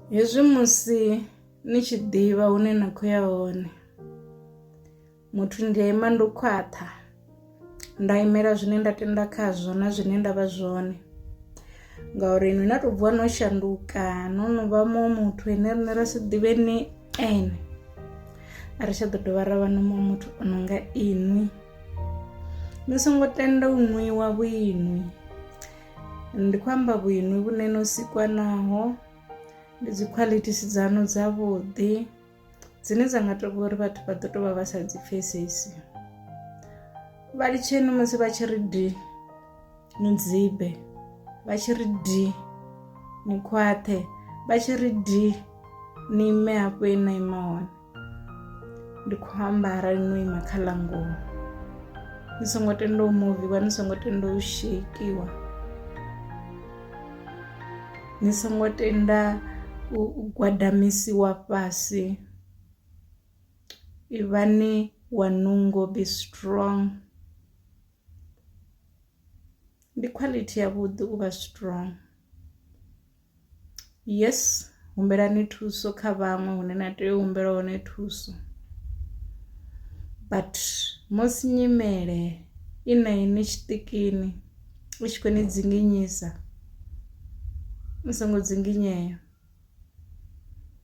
hezwi musi ni tshi ḓivha hune na khou ya hone muthu ndi a ima ndo khwaṱha nda imela zwine nda tenda khazwo na zwine nda vha zwone ngauri inwi na tou bvuwa no shanduka no no vha muṅwe muthu ene rine ra si ḓivhe ni ene a ri tsha ḓo dovha ra vha no muṅwe muthu o no nga inwi ni songo tenda u nwiwa vhuinwi ndi khou amba vhuinwi vhune no sikwa naho ndi dzi qualities dzanu dza vhuḓi dzine dza nga tou uri vhathu vha ḓo tou vha vha sa dzi pfesesi vha litsheni musi vha tshi ri di ni dzibe vha tshi ri di ni khwaṱhe vha tshi ri di ni ime hafho e na ima hone ndi khou amba arali no ima kha ḽa ngoho ni songo tenda u muviwa ni songo tenda u sheikiwa ni songo tenda u gwadamisiwa fhasi ivhani wa nungo be strong ndi quality ya vhuḓi u vha strong. Yes humbelani thuso kha vhaṅwe hune na tea u humbela hone thuso but musi nyimele i na inwi tshiṱikini u tshi kho ni dzinginyisa ni songo dzinginyea,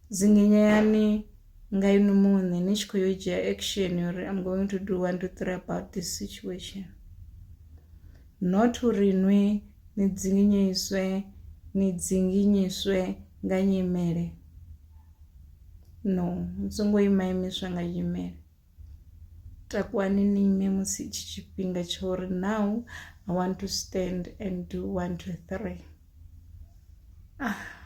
dzinginyani nga inwi muṋe ni tshi kho yo dzhia action uri am going to do one two three about this situation not uri nwi. ni dzinginyiswe ni dzinginyiswe nga nyimele no ni songo ima imiswa nga nyimele takuwani ni ime musi tshi tshifhinga tsha uri now i want to stand and do one two three ah.